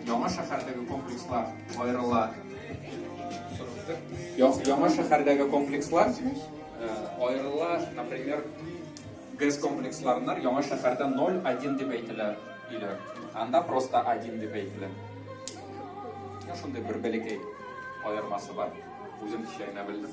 Яңа шәһәрдәге комплекслар аерыла. Яңа шәһәрдәге комплекслар аерыла, например, ГЭС комплексларыннар яңа шәһәрдә 0-1 дип әйтелә иде. Анда просто 1 дип әйтелә. Шундый бер бәләкәй аермасы бар. Үзем кичә генә белдем.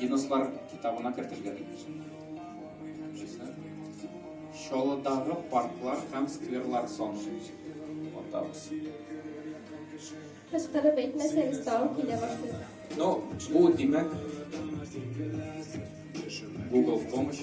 Гиннесслар китабына кертергә дип җыйсак, Чаллыдагы парклар һәм скверлар санын атабыз. Кычкырып әйтмәсәгез, тагын килә башлыйм. Ну, бу димәк Google в помощь.